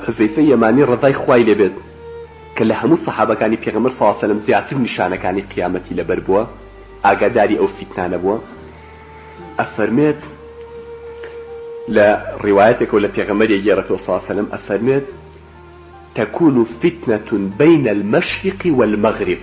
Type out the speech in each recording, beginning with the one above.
حوزەیفەی یەمانی ڕەزای خوای لێ بێت کە لە هەموو سەحابەکانی پێغەمبەر صلی اللە علیە و سلم زیاتر نیشانەکانی قیامەتی لەبەر بووە ئاگاداری ئەو فیتنانە بووە ئەفەرمێت لە ڕیوایەتێکەوە لە پێغەمبەری ئەگێڕێتەوە صلی اللە علیە و سلم ئەفەرمێت تەکون فتنە بین المشرق والمغرب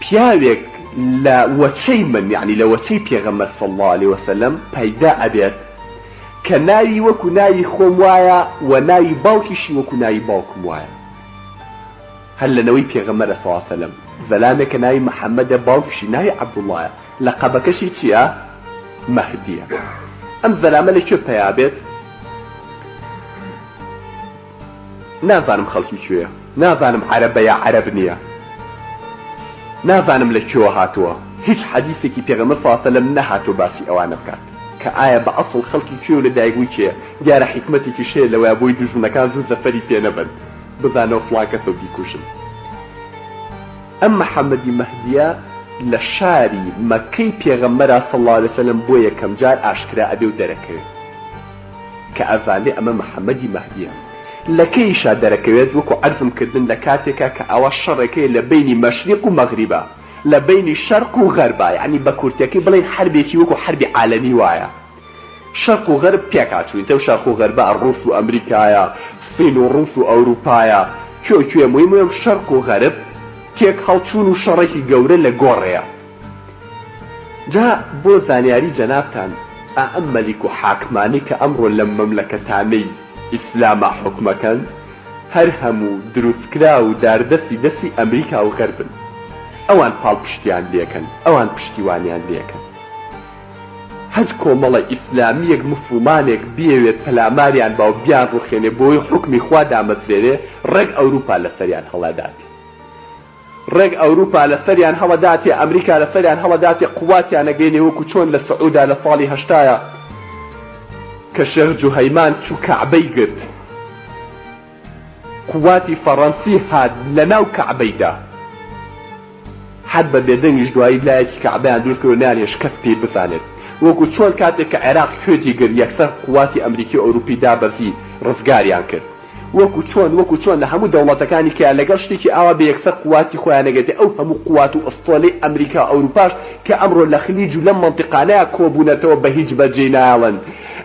پیاوێک لە وەچەی من، یەعنی لە وەچەی پێغەمبەر صلی اللە علیە وسلم، پەیدا ئەبێت کە ناوی وەکو ناوی خۆم وایە و ناوی باوکیشی وەکو ناوی باوکم وایە. هەر لە نەوەی پێغەمبەرە صلی اللە علیە وسلم، زەلامێک کە ناوی محمدە باوکیشی ناوی عبداللەیە، لەقەبەکەشی چیە؟ مەهدیە. ئەم زەلامە لە کوێ پەیا بێت؟ نازانم خەڵکی کوێیە نازانم عەرەبە یا عەرەب نیە نازانم لە کوێوە هاتووە هیچ حەدیسێکی پێغەمبەر صلی اللە علیە و سلم نەهاتووە باسی ئەوانە بکات کە ئایا بە ئەسڵ خەڵکی کوێ و لە دایک بووی کێیە دیارە حیکمەتێکیش هەیە لەوەیا بۆی دوژمنەکان زوو زەفەری پێ نەبەن بزانەوە فڵان کەسە و بیکوژن ئەم محمدی مەهدیە لە شاری مەککەی پێغەمبەرە صلی اللە علیە و سلم بۆ یەکەم جار ئاشکرا ئەبێ و دەرەکەوێ. کە ئەزانێ ئەمە محمدی مەهدیە لە کەیشا دەرەکەوێت وەکو عەرزم کردن لە کاتێکا کە ئاوا شەڕێک هەیە لە بەینی مەشریق و مەغریبا لە بەینی شەرق و غەربا یەعنی بە کورتەکەی بڵێین حەربێکی وەکو حەربی عالەمی وایە شەرق و غەرب پێکهاتووین تەو شەرق و غەربا ڕووس و ئەمریکایە سین و ڕووس و ئەوروپایە کوێ و کوێ مویم وێم شەرق و غەرب تێک هەڵچوون و شەڕێکی گەورە لە گۆڕێیە. جا بۆ زانیاری جەنابتان ئائەم مەلیک و حاکمانەی کە ئەمڕۆ لەم مەملەکەتانەی ئیسلاما حوکمەکەن هەر هەموو دروستکراو و داردەستی دەستی ئەمریکا و غەربن ئەوان پاڵپشتیان لێکەن ئەوان پشتیوانیان لێکەن هەج کۆمەڵە ئیسلامیەک موسڵمانێک بیەوێت پەلاماریان باو بیان ڕوخێنێ بۆوەی حوکمی خوا دامەزرێنێ ڕێک ئەوروپا لەسەریان هەڵەداتێ ڕێک ئەوروپا لە سەریان هەڵەداتێ ئەمریکا لە سەریان هەڵەداتێ قواتیان ئەگەینێ وەکو چۆن لە سعودا لە ساڵی هەشتایا کە شێخ جوهەیمان چو کەعبەی گرت قواتی فەڕەنسی هات لە ناو کەعبەیدا حەد بە بێدەنگیش دوایی لایەکی کەعبەیان دروست کرد و نەیان هێشت کەس پێی بزانێت وەکو چۆن کاتێک کە عێراق کوێتی گرت یەکسەر قواتی ئەمریکی و ئەوروپی دابەزی ڕزگاریان کرد وەکو چۆن وەکو چۆن لە هەموو دەوڵەتەکانی کە لەگەڵ شتێکی ئاوا بێ یەکسەر قوواتی خۆیان ئەگرتێ ئەو هەموو قووات و ئەستۆلەی ئەمریکا و ئەوروپاش کە ئەمڕۆ لە خلیج و لەم مەنتیقانەیا کۆبوونەتەوە بە هیچ بەرجێ نایەڵن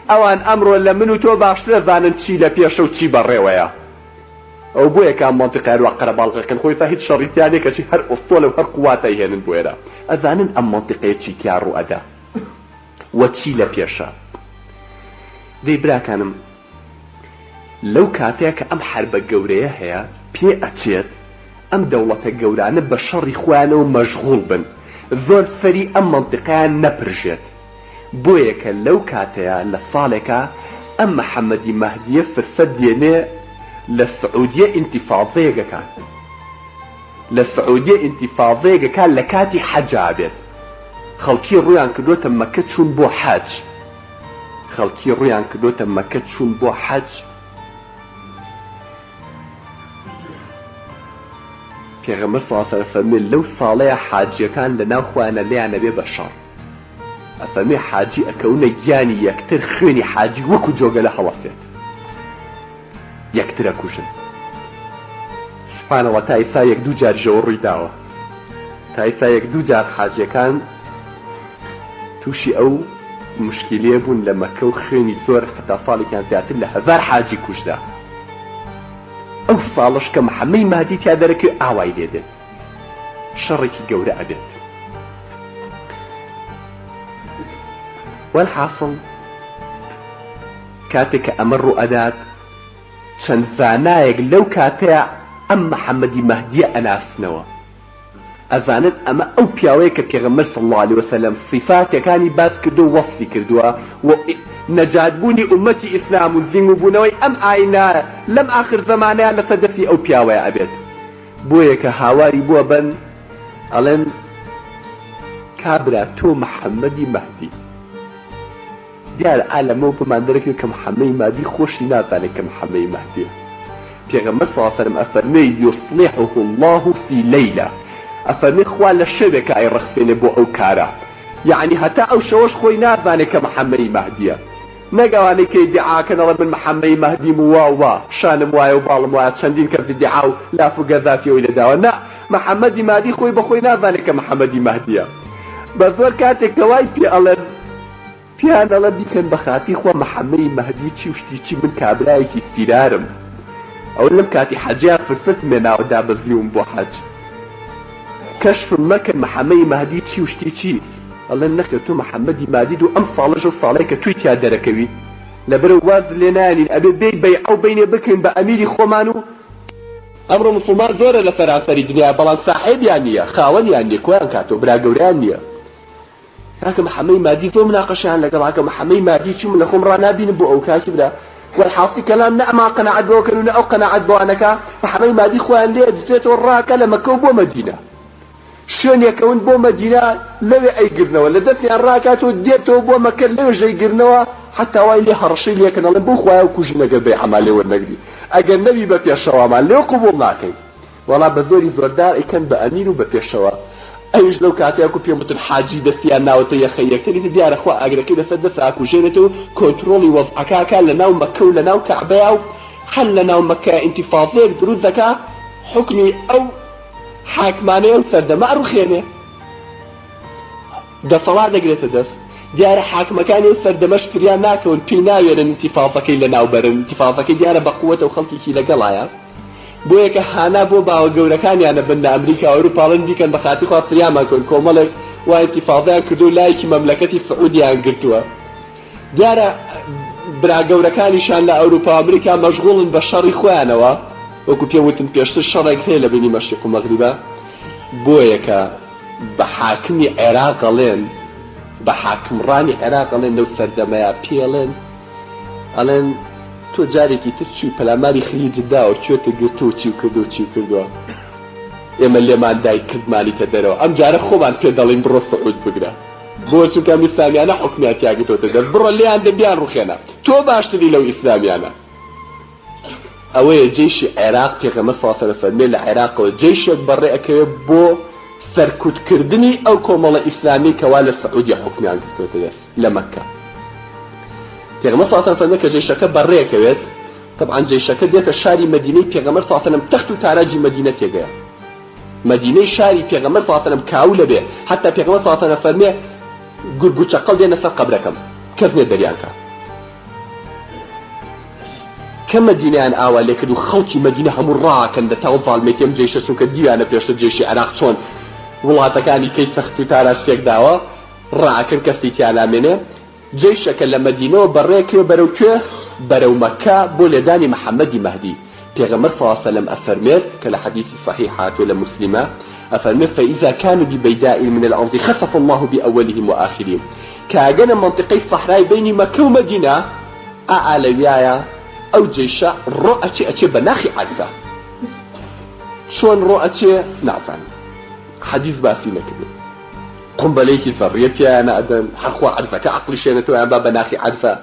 ئەوان ئەمڕۆ لە من و تۆ باشتر ئەزانن چی لە پێشە و چی بەڕێوەیە ئەو بۆیە کە ئەم مەنتیقەیا لوا قەرەباڵغ ئەکەن خۆ ئێستا هیچ شەڕی تیا نیە کەچی هەر ئەستۆلە و هەر قووات ئەیهێنن بۆ ئێرە ئەزانن ئەم مەنتیقەیە چی تیا ڕوو ئەدا و چی لە پێشە دەی براکانم لەو کاتەیا کە ئەم حەربە گەورەیە هەیە پێ ئەچێت ئەم دەوڵەتە گەورانە بە شەڕی خۆیانەوە مەشغوڵ بن زۆر سەری ئەم مەنتیقەیان نەپرژێت بۆیە کە لەو کاتەیا لە ساڵێکا ئەم محمدی مەهدیە فرسەت دێنێ لە سعودیە ئینتیفازەیەک ئەکات لە سعودیە ئینتیفازەیەک ئەکات لە کاتی حەجا بێت خەڵکی ڕوویان کردۆتە مەکە چوون بۆ حەج. خەڵکی ڕوویان کردۆتە مەکە چوون بۆ حەج پێغەمبەر صلی اللە علیە و سلم ئەفەرموێ لەو ساڵەیە حاجیەکان لەناو خۆیانە لێیان ئەبێ بە شەڕ ئەفەرموێ حاجی ئەکەونە گیانی یەکتر خوێنی حاجی وەکو جۆگەلە هەڵەسێت. یەکترەکوژن سوبحانەڵا تا ئیستا یەک دوو جاریشەوە ڕویداوە تا ئیستا یەک دوو جار حاجیەکان توشی ئەو موشکیلەیە بوون لە مەکە و خوێنی زۆر حەتا ساڵێکیان زیاتر لە هەزار حاجی کوژرا ئەو ساڵەش کە محەمەی مادی تیا دەرەکەوێ ئاوای لێ دێت شەڕێکی گەورە ئەبێت وەلحاسڵ کاتێک کە ئەمە ڕووئەدات چەند زانایەک لەو کاتەیا ئەم محمدی مەهدیە ئەناسنەوە ئەزانن ئەمە ئەو پیاوەیە کە پێغەمبەر صلی اللە علیە وسلم سیفاتەکانی باس کردوە وەسفی کردوە و نەجات بوونی ئومەتی ئیسلام و زیموبوونەوەی ئەم ئاینە لەم ئاخر زەمانەیا لەسەر دەستی ئەو پیاوەیا ئەبێت بۆیە کە هاواری بووە بەن ئەڵێن کابرا تۆ محمدی مەهدیت. دیارە ئا لەمەوە پێمان دەرەکەوێت کە محەمەی مادی خۆشی نازانێت کە محەمەی مادیە پێغەمبەر صلی اللە سەلەم ئەفەرموێ یصلحه اللە فی لیلە ئەفەرموێ خوا لە شەوێکا ئەیڕەخسێنێ بۆ ئەو کارە یەعنی هەتا ئەو شەوەش خۆی نازانێت کە محەمەی مادیە نەک ئەوانەی کە ئیدعا ئەکەن ئەڵێن من محەمەی مادیم و وا و وا شانم وایە و باڵم وایە چەندین کەس ئیدعا و لاف و گەزافی ئەوی لێداوە نا محەمەدی مادی خۆی بەخۆی نازانێت کە محەمەدی مادیە بەزۆر کاتێک کە وای پێ ئەڵێن پێیان ئەڵێ بیکەن بە خاتی خوا محەمەی مەهدی چی و شتی چی من کابرایەکی سیرارم ئەوە لەم کاتی حەجیا فرسەتم لێناوە دابەزیوم بۆ حەج کەشفم مەکەن محەمەی مەهدی چی و شتی چی ئەڵێن نەخێر تۆ محەمەدی مادید و ئەم ساڵەش ئەو ساڵەیە کە تۆی تیا دەرەکەوی لەبەرئەوە وازت لێ نانین ئەبێ بێی بەیعە و بینێ بکرین بە ئەمیری خۆمان و ئەمڕۆ موسڵمان زۆرە لە سەرانسەری دنیا بەڵام ساحێبیان نیە خاوەنیان نیە کۆیان کاتەوە برا گەورەیان نیە. کاکە محەمەی مادی زۆر مناقەشەیان لەگەڵ کاکە محەمەی مادی چوم لە خۆم ڕا نابینم بۆ ئەو کاکی برا والحاصی کەلام نە ئەمان قەناعەت بەوە کەن و نە ئەو قەناعەت بەوان نەکا محەمەی مادی خۆیان لێ ئەدزێتەوە ڕاکە لە مەکەو بۆ مەدینە شوێن یەکەون بۆ مەدینە لەوێ ئەیگرنەوە لە دەستیان ڕاکاتەوە دێتەوە بۆ مەکە لەوێش ئەیگرنەوە حەتا وای لێ هەڕەشەی لێ کەن ئەڵێن بەو خوایە بکوژین ئەگەر بەیعەمان لێ وەرنەگری ئەگەر نەبی بە پێشەوامان لێ قبوڵ ناکەین وەڵا بە زۆری زۆر دار ئەیکەن بە ئەمیر و بە پێشەوا ئەویش لەو کاتەی وەکو پێم وتن حاجی دەستیان ناوەتە یەخەی یەکتر ئیتر دیارە خوا ئاگرەکەی لەسەر دەستا ئەکوژێنێت و کۆنترۆڵی وەزعەکە ئەکا لەناو مەککە و لەناو کەعبەیا و هەر لەناو مەککەیا ئینتیفازەیەک دروست دەکا حوکمی ئەو حاکمانەی ئەو سەردەمە ئەڕوخێنێ دەسەڵات دەگرێتە دەست دیارە حاکمەکانی ئەو سەردەمەش فریان ناکەون پێی ناوێرن ئینتیفازەکەی لەناو بەرن ئینتیفازەکەی دیارە بە قوەتە و خەڵکێکی لەگەڵایە بۆیە کە هانا بۆ باوە گەورەکانیانە بن لە ئەمریکا و ئەوروپا ڵن بیکەن بە خاتری خوا فریامان کەون کۆمەڵێک وا ئینتیفازەیان کردوە و لایکی مەملەکەتی سعودیەیان گرتوە دیارە برا گەورەکانیشان لە ئەوروپا و ئەمریکا مەشغوڵن بە شەڕی خۆیانەوە وەکو پێم وتن پێشتر شەڕێک هەیە لە بینی مەشریق و مەغریبا بۆیە کە بە حاکمی عێراق ئەڵێن بە حاکمڕانی عێراق ئەڵێن لەو سەردەمەیا پێڵێن ئەڵێن تۆ جارێکی تر چوی پەلاماری خلیجت داوە کوێتە گرتوە و چیو کردوە چیو کردوە ئێمە لێمان دای کردمانیتە دەرەوە ئەم جارە خۆمان پێت دەڵێین بڕۆ سعود بگرە بۆ چونکە ئەم ئیسلامیانە حوکمیان تیا گرتۆتە دەست بڕۆ لێیان دە بیان ڕوخێنە تۆ باشتری لەو ئیسلامیانە. ئەوەیە جەیشی عێراق پێغەمبەر سڵ سەلەم فەرمیێ لە عێراقەوە جەیشێک بەڕێ ئەکەوێ بۆ سەرکوت کردنی ئەو کۆمەڵە ئیسلامیەی کەوا لە سعودیە حوکمیان گرتوەتە دەست لە مەککە پێغەمبەر سڵ سەلەم فەرمیێ کە جەیشەکە بەڕێ ئەکەوێت طبعا جەیشەکە دێتە شاری مەدینەی پێغەمبەر سڵ سەلەم تەخت و تاراجی مەدینە تێگەیە مەدینەی شاری پێغەمبەر سڵ سەلەم کاولە بێ حتا پێغەمبەر سڵ سەلەم فەرمیێ گورگ و چەقەڵ دێنە سەر قەبرەکەم کەس نێ دەریان کە کە مەدینەیان ئاوا لێ کرد و خەڵکی مەدینە هەموو ڕاکەن لە تاو زاڵمێتی ئەم جەیشە چونکە دیویانە پێشتر جەیشی عێراق چۆن وڵاتەکانی کەی تەخت و تاراج تێک داوە ڕاکەن کەسی تیا نامێنێ جەیشەکە لە مەدینەوە بە ڕێ کوێ بەرەو کوێ بەرەو مەککە بۆ لێدانی محمدی مەهدی پێغەمبەر صلی اللە سلم ئەفەرمێت کە لە حەدیسی صحیح هاتووە لە موسلیمە ئەفەرمێت فاذا کانو ببیداء من الارض خسف اللە بأولهم وآخرهم کە ئەگەنە مەنتیقەی سەحرای بەینی مەککە و مەدینە ئائا لەویایە ئەو جەیشە ڕۆ ئەچێ ئەچێ بە ناخی عەرفە چۆن ڕۆ ئەچێ نازانم حەدیس باسی نەکردن قومبەلەیەکی زەڕیە پیایانە ئەدەن هەر خوا عەرفەکە عەقڵی شێنێتەوە یان با بە ناخی عەرفە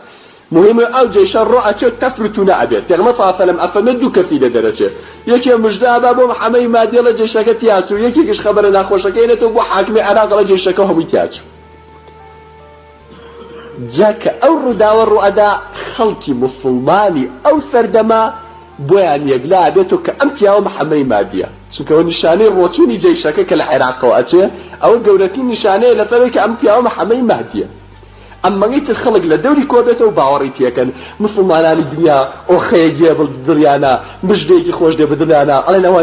مهم ئەو جەیشە ڕۆ ئەچێ تەفر و تونە ئەبێت پێغەمبەر صلی سلم ئەفەرمێ دوو کەسی لێ دەرەچێ یەکێ مژدە ئەبا بۆ محەمەی مادی ئەڵێ جەیشەکە تیاچوو یەکێکیش خەبەرە ناخۆشەکەی ئەنێتەوە بۆ حاکمی عێراق ئەڵێ جەیشەکە هەمووی تیاچوو جا کە ئەو ڕووداوە ڕووئەدا خەڵکی موسڵمانی ئەو سەردەمە بۆیان یەکلا ئەبێتەوە کە ئەم پیاوە محەمەی مادیە چونکە ئەوە نیشانەی ڕۆچوونی جەیشەکە کە لە عێراقەوە ئەچێ ئەوە گەورەترین نیشانەیە لەسەر ئەوەی کە ئەم پیاوە محەمەی مادیە ئەمەڵی تر خەڵک لە دەوری کۆبێتەوە باوەڕی پێکەن موسڵمانانی دنیا ئۆخەیەک یێ بڵ دڵیانا مژدەیەکی خۆش دێ بە دڵیانا ئەڵێن ئەوە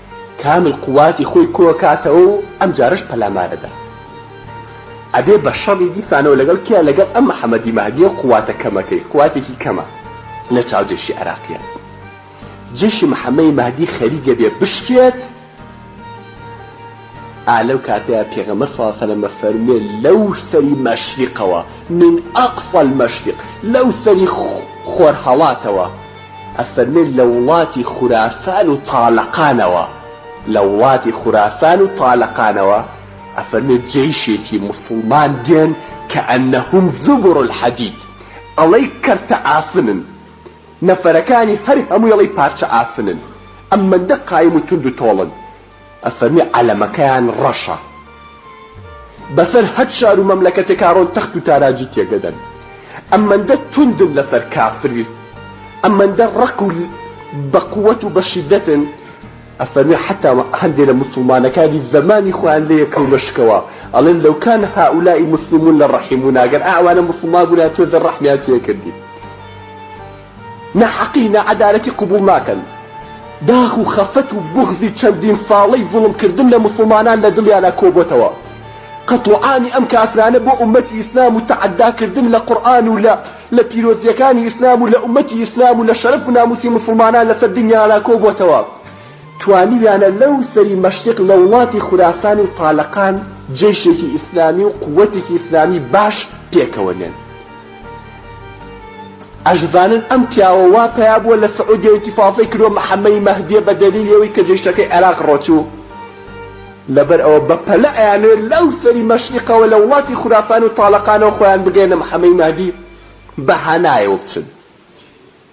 کامل قوواتی خۆی کۆکاتەوە و ئەم جارەش پەلامارەدا ئەبێ بە شەڕی دیسانەوە لەگەڵ کێ لەگەڵ ئەم محەمەدی مەهدیە و قوواتە کەمەکەی قوواتێکی کەمە لە چاو جەیشی عێراقیان جەیشی محەمەی مەهدی خەریکە بێ بشکێت ئا لەو کاتەیە پێغەمبەر صلی اللە علیە و سلم ئەفەرموێ لەو سەری مەشریقەوە من اقصی المشرق لەو سەری خۆرهەڵاتەوە ئەفەرمێت لە وڵاتی خوراسان و تالەقانەوە، لە وڵاتی خوراسان و تالەقانەوە، ئەفەرمێت جەیشێکی موسڵمان دێن کەئەنەهم زبر الحدید، ئەڵێی کەرتە ئاسنن، نەفەرەکانی هەر هەمووی ئەڵێی پارچە ئاسنن، ئەم مەندە قایم و توند و تۆڵن، ئەفەرمی عەلەمەکەیان ڕەشە بەسەر هەت شار و مەملەکەتێک کاڕۆن تەخت و تاراجی تێگەدەن ئەمەندە توندن لەسەر کافری ئەمەندە ڕەق و بە قوەت و بە شیدەتن ئەفەرمی حەتا هەندێ لە موسوڵمانەکانی زەمانی خۆیان لێ کەونە شکەوە ئەڵێن لەو کان هائولاء مسلمون لە ڕەحیمونا گەر ئەوانە موسوڵمان بوونایە تۆزێ ڕەحمیان تێ کردی. ناحەقی ناعەدالەتی قبوڵ ناکەن، داخ و خەفەت و بوغزی چەندین ساڵەی زوڵم کردن لە موسڵمانان لە دڵیانا کۆبۆتەوە، قەتڵوعامی ئەم کافرانە بۆ ئومەتی ئیسلام و تەعەدا کردن لە قورئان و لە لە پیرۆزیەکانی ئیسلام و لە ئومەتی ئیسلام و لە شەرەف و ناموسی موسڵمانان لەسەر دنیانا کۆبۆتەوە توانیویانە لەو سەری مەشریق لە وڵاتی خوراسان و تالەقان جەیشێکی ئیسلامی و قوەتێکی ئیسلامی باش پێکەوە نێن. ئەشڤانن ئەم پیاوە وا پەیا بووە لە سعودیە و ئینتیفازەی کردووە محەمەی مەهدیە بە دەلیلی ئەوەی کە جەیشەکەی عێراق ڕۆچوو لەبەر ئەوە بە پەلە ئەیانەوێت لەو سەری مەشریقەوە لە وڵاتی خوراسان و تاڵەقانەوە خۆیان بگەیەنە محەمەی مەهدی بە هەنایەوە بچن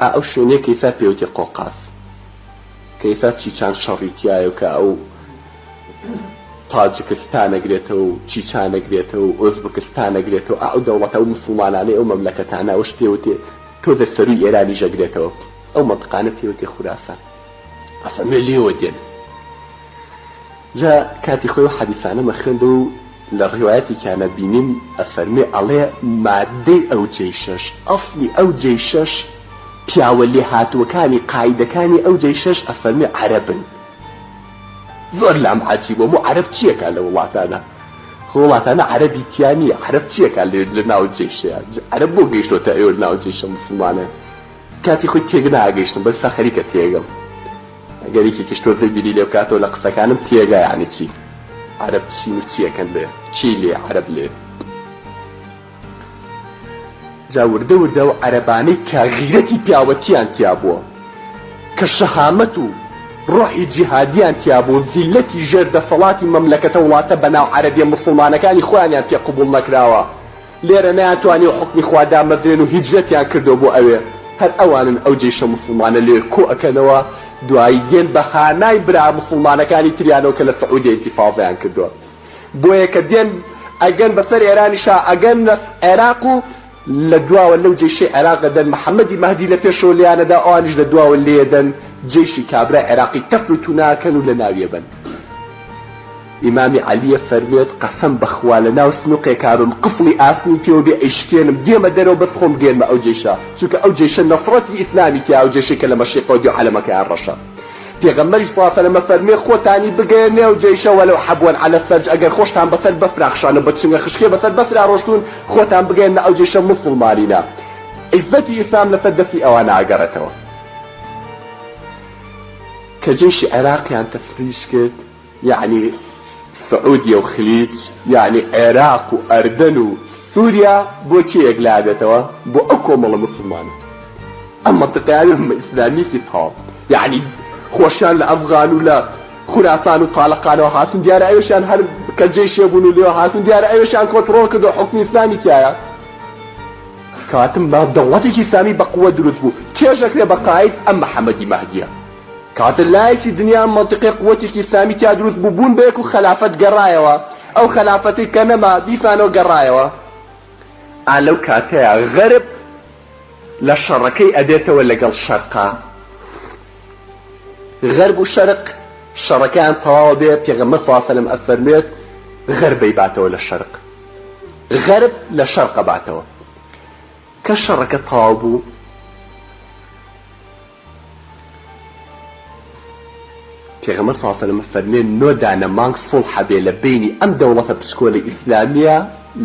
ئا ئەو شوێنەی کە ئیستا پێوتی قۆقاز کە ئیستا چیچان شەڕی تیایە و کە ئەو تاجکستان ئەگرێتەوە و چیچان ئەگرێتەوە و ئۆزبکستان ئەگرێتەوە ئا ئەو دەوڵەتە ئەو موسڵمانانەی ئەو مەملەکەتانە ئەوەش پێوتێ تۆزێ سەرووی ئێرانیش ئەگرێتەوە ئەو مەنتقانە پێوتێ خوراسان ئەفەرموێ لێوە دێن. جا کاتی خۆی ئەو حەدیسانەمە خوێندەوە و لە ڕیوایەتێکیانا بینیم ئەفەرموێ ئەڵێ، ماددەی ئەو جەیشەش، ئەسڵی ئەو جەیشەش، پیاوە لێهاتووەکانی، قائیدەکانی ئەو جەیشەش ئەفەرموێ عەرەبن. زۆر لام عەجیب بوو، ئەموو عەرەب چیەکا لەو وڵاتانە؟ خۆ وڵاتانە عەرەبی تیا نیە، عەرەب چیەکا لە ناو جەیشەیا؟ عەرەب بۆ گەیشتۆتە ئێوە ناو جەیشە موسڵمانەیا؟ کاتی خۆی تێک ناگەیشتم بەسا خەریکە تێگەم. ئەگەر یەکێکیش تۆزێ بیری لێ بکاتەوە لە قسەکانم تێگا یەعنی چی عەرەب چین و چی ئەکەن لێ کێی لێ عەرەب لێ جا وردە وردە ئەو عەرەبانەی کە غیرەتی پیاوەتیان تیا بووە کە شەهامەت و ڕۆحی جیهادیان تیا بوو زیللەتی ژێر دەسەڵاتی مەملەکەتە وڵاتە بەناو عەرەبیە موسڵمانەکانی خۆیانیان تێ قبوڵ نەکراوە لێرە نەیانتوانیوە حوکمی خوا دامەزرێن و هیجرەتیان کردوە بۆ ئەوێ هەر ئەوانن ئەو جەیشە موسڵمانە لەوێ کۆ ئەکەنەوە دوایی دێن بە هانای برا موسڵمانەکانی تریانەوە کە لە سعودیە ئینتیفازەیان کردوە بۆیە کە دێن ئەگەن بەسەر ئێرانیشا ئەگەنە عێراق و لە دواوە لەو جەیشەی عێراق ئەدەن محمدی مەهدی لە پێشەوە لێیان ئەدا ئەوانیش لە دواوە لێی ئەدەن جەیشی کابرای عێراقی تەفر و تونا ئەکەن و لە ناوی ئەبەن. ئیمامی عەلیە فەرموێت، قەسەم بەخوا لەناو سنوقێکابم قفڵی ئاسنی پێوە بێ ئەیشکێنم دێمە دەرەوە بەس خۆم گێنمە ئەو جەیشە چونکە ئەو جەیشە نەسڕەتی ئیسلامی تیایە ئەو جەیشەی کە لە مەشریقەوە دێو عەلەمەکەیان ڕەشە پێغەمبەریش صلی اللە علیە و سلم ئەفەرموێ خۆتانی بگەیەننە ئەو جەیشە ولو حبوا علی الثلج ئەگەر خۆشتان بەسەر بەفرا خشانەوە بە چنگە خشکێ بەسەر بەفرا ڕۆشتون خۆتان بگەیەننە ئەو جەیشە موسڵمانینە عیزەتی ئیسلام لەسەر دەستی ئەوانە ئەگەڕێتەوە کە جەیشی عێراقیان تەفریج کرد. یەعنی سعودیە و خلیج یەعنی عێراق و ئەردەن و سوریا بۆ کێ یەک لابێتەوە بۆ ئەو کۆمەڵە موسڵمانە ئەم مەنتقەیان ئەمە ئیسلامیەکی تاڵ یەعنی خۆشیان لە ئەفغان و لە خوراسان و تالەقانەوە هاتون دیارە ئەوێشیان هەر کە جەیشێ بون و لێوە هاتون دیارە ئەوێشیان کۆنتڕۆڵ کردوە حوکمی ئیسلامی تیایە کاتم با دەوڵەتێکی ئیسلامی بە قوەت دروست بو چێژ ئەکرێ بە قاید ئەم محمدی مەهدیە. کاتێ لایەکی دنیا مەنتیقێ قوەتێکی ئیسلامی تیا دروست بوو بوون بە یەک و خەلافەت گەرایەوە ئەو خەلافەتەی کە نەما دیسانەوە گەرایەوە ئا لەو کاتەیا غەرب لە شەڕەکەی ئەبێتەوە لەگەڵ شەرقا غەرب و شەرق شەڕەکەیان تەواوە بێ پێغەمبەر صلی سەلم ئەفەرموێت غەربەی باتەوە لە شەرق غەرب لە شەرقە باتەوە کە شەڕەکە تەواو بوو پێغەمبەر صلی اللە علیە و سلم فەرموێ نۆ دانە مانگ سوڵح هەبێ لە بەینی ئەم دەوڵەتە پچکۆلە ئیسلامیە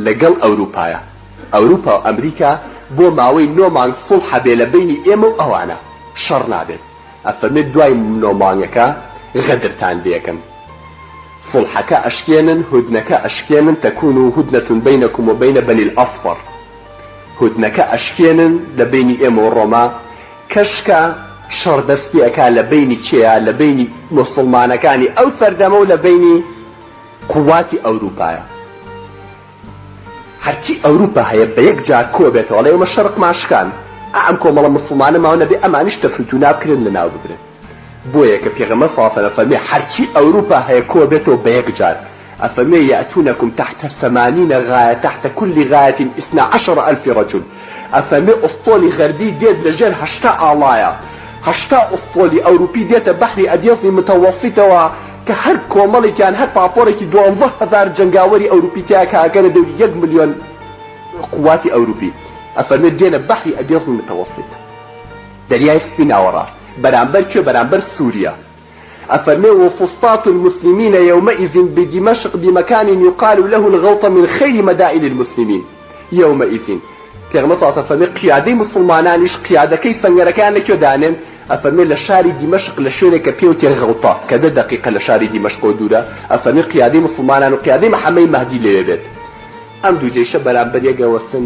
لە گەڵ ئەوروپایە ئەوروپا و ئەمریکا بۆ ماوەی نۆ مانگ سوڵح هەبێ لە بەینی ئێمە و ئەوانە شەڕ نابێت ئەفەرموێ دوای نۆ مانگەکە غەدرتان لێکەن سوڵحەکە ئەشکێنن هودنەکە ئەشکێنن تەکون هودنە بەینەکم و بەینە بەنی الاصفر هودنەکە ئەشکێنن لە بەینی ئێمە و ڕۆما کەشکە شەڕ دەست پێ ئەکا لە بەینی کێیە لە بەینی موسوڵمانەکانی ئەو سەردەمەو لە بەینی قوواتی ئەوروپایە هەرچی ئەوروپا هەیە بە یەک جار کۆ بێتەوە ئەڵێ ئێمە شەڕقمان شکان ئا ئەم کۆمەڵە موسوڵمانە ماو نەبێ ئەمانیش تەفروتونا بکرێن لە ناو ببرێن بۆیە کە پێغەمبەر صلی اللە علیە و سلم فەرمی هەرچی ئەوروپا هەیە کۆ بێتەوە بە یەک جار ئەفەرموێ یاتونکم تحت ثمانین غایە تحت کل غایە اثنا عشر الف رجل ئەفەرموێ ئوسطۆلی غەربی دێت لە ژێر هەشتا ئاڵایە هەشتا ئوسطۆلی ئەوروپی دێتە بەحری ئەبیەزی متەوەسیتەوە کە هەر کۆمەڵیکیان هەر پاپۆرێکی دوانزە هەزار جەنگاوەری ئەوروپی تیایە کە ئەگەنە دەوری یەک ملیۆن قوواتی ئەوروپی ئەفەرموێ دێنە بەحری ئەبیەزی متەوەسیت دەریای سپی ناوەڕاست بەرامبەر کوێ بەرامبەر سوریە ئەفەرمێ وفصاة المسلمین یومئذ بدمشق بمکان یقال له الغوطە من خیر مدائن المسلمین یومئذ پێغەمبەر صلی اللە علیە وسلم فەرمێ قیادەی موسڵمانانیش قیادەکەی سەنگەرەکەیان لەکوێ دانێن ئەفەرمێ لە شاری دیمەشق لە شوێنێک کە پێوتێ غوطە کە دە دەقیقە لە شاری دیمەشقەوە دوورە ئەفەرمێ قیادەی موسڵمانان و قیادەی محمەی مەهدی لەوێ بێت ئەم دوو جەیشە بەرامبەر یەک ئەوەستن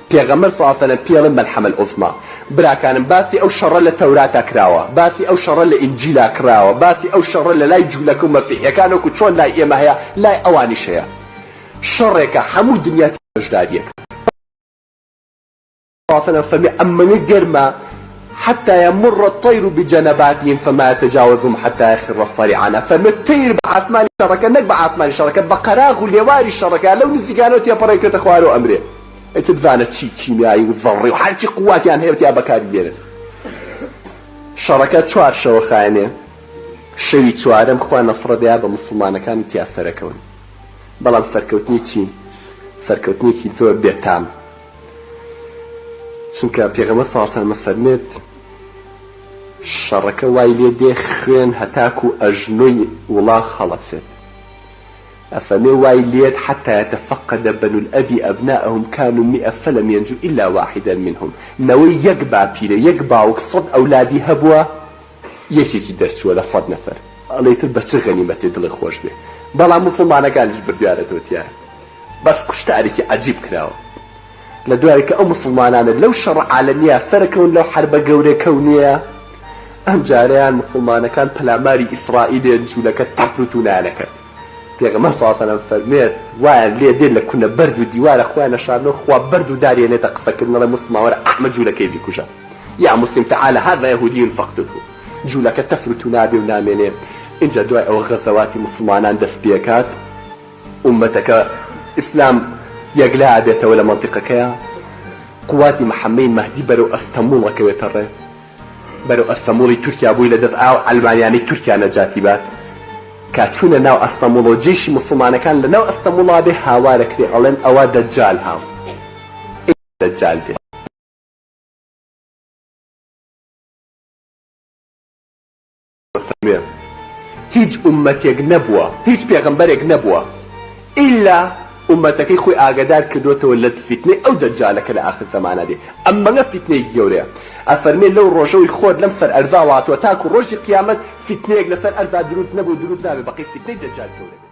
پێغەمبەر صلی اللە علیە و سلم پێڵێن مەلحەمە العظمی براکانم باسی ئەو شەڕە لە تەوراتا کراوە باسی ئەو شەڕە لە ئینجیلا کڕاوە باسی ئەو شەڕە لە لای جولەکە و مەسیحیەکان وەکو چۆن لای ئێمە هەیە لای ئەوانیش هەیە شەڕێکە هەموو دنیا تێدا بەشداریەکە پاسەلام فەرمی ئەمەنە گەرمە حتى يمر الطير بجنباتهم فما يتجاوزهم حتى يخر الصريعان ئەفەرمێت تەیر بە ئاسمانی شەڕەکە نەک بە ئاسمانی شەڕەکە بە قەراغ و لێواری شەڕەکە لەو نزیکانەوە تێپەڕێ و کەتە خوارەوە ئەمرێ ئیتر بزانە چی کیمیایی و زەڕڕی و هەرچی قووتیان هەیە تیا بەکاری دێنن. شەڕەکە چوار شەوە خایەنێ. شەوی چوارەم خوا نەسڕە دەیا بە موسڵمانەکان و تیا سەرەکەون. بەڵام سەرکەوتنی چی؟ سەرکەوتنێکی زۆر بێ تام. چونکە پێغەمبەر سەڵاو سەلەم ئەفەرمێت، شەڕەکە وای لێ دێ خوێن هەتاکوو ئەژنۆی وڵاخ هەڵەسێت. ئەفەمێ وای لێت حتی یتفقد بنو الاب ابناءهم کانوا مئ فلم ینجو الا واحدا منهم نەوەی یەک باپیرە یەک باوک سەد ئەولادی هەبوە یەکێکی دەرچوە لە سەد نەفەر ئەڵێی تر بە چ غەنیمەتێ دڵێ خۆش بێ بەڵام موسڵمانەکانیش بردیانەتەوە تیایە بەس کوشتارێکی عەجیب کراوە لە دوایە کە ئەو موسڵمانانە لەو شەڕە عالەمیە سەرەکەون لەو حەربە گەورە کەونیە ئەمجارەیان موسڵمانەکان پەلاماری ئیسرائیلێن جولەکە تەفروتونایانەکرد. پێغەمبەر صلی اللە علیە وسلم فەرموێ وایان لێ دێ لە کونە بەرد و دیوارە خۆیان نەشارنەوە خوا بەرد و دار یەنێتە قسە کردن ئەڵێ موسڵمان وەرە ئەحمە جولەکەی بیکوژە یا موسلیم تعالە هذا یهودی فاقتلهو جولەکە تەفر و تونا بێ و نامێنێ ئینجا دوای ئەوە غەزەواتی موسڵمانان دەست پێ کات ئومەتەکە ئیسلام یەکلا ئەبێتەوە لە مەنتیقەکەیا قواتی محمەی مەهدی بەرەو ئەستەموڵ ئەکەوێتە ڕێ. بەرەو ئەستەموڵی تورکیا بووی لە دەست ئاو عەلمانیانەی تورکیا نەجاتی بات کا چوونە ناو ئەستەموڵەوە جێشی موسڵمانەکان لە ناو ئەستەموڵا بێ هاوارە کرێ ئەڵێن ئەوە دەجال هاو ی دەجال بێ. فەرموێ هیچ ئوممەتێک نەبووە هیچ پێغەمبەرێک نەبووە ئیلا ئوممەتەکەی خۆی ئاگادار کردۆتەوە لە فیتنەی ئەو دەجالە کە لە ئاخر زەمانە دێ ئەمەگە فیتنەیەکی گەورەیە ئەفەرمێ لەو ڕۆژەوەی خۆر لەم سەر ئەرزاوە هاتووە تاکو ڕۆژی قیامەت فیتنەیەک لەسەر ئەرزا دروست نەبوو و دروست نابێ بەقەی فیتنەی دەجال گەورە بێت.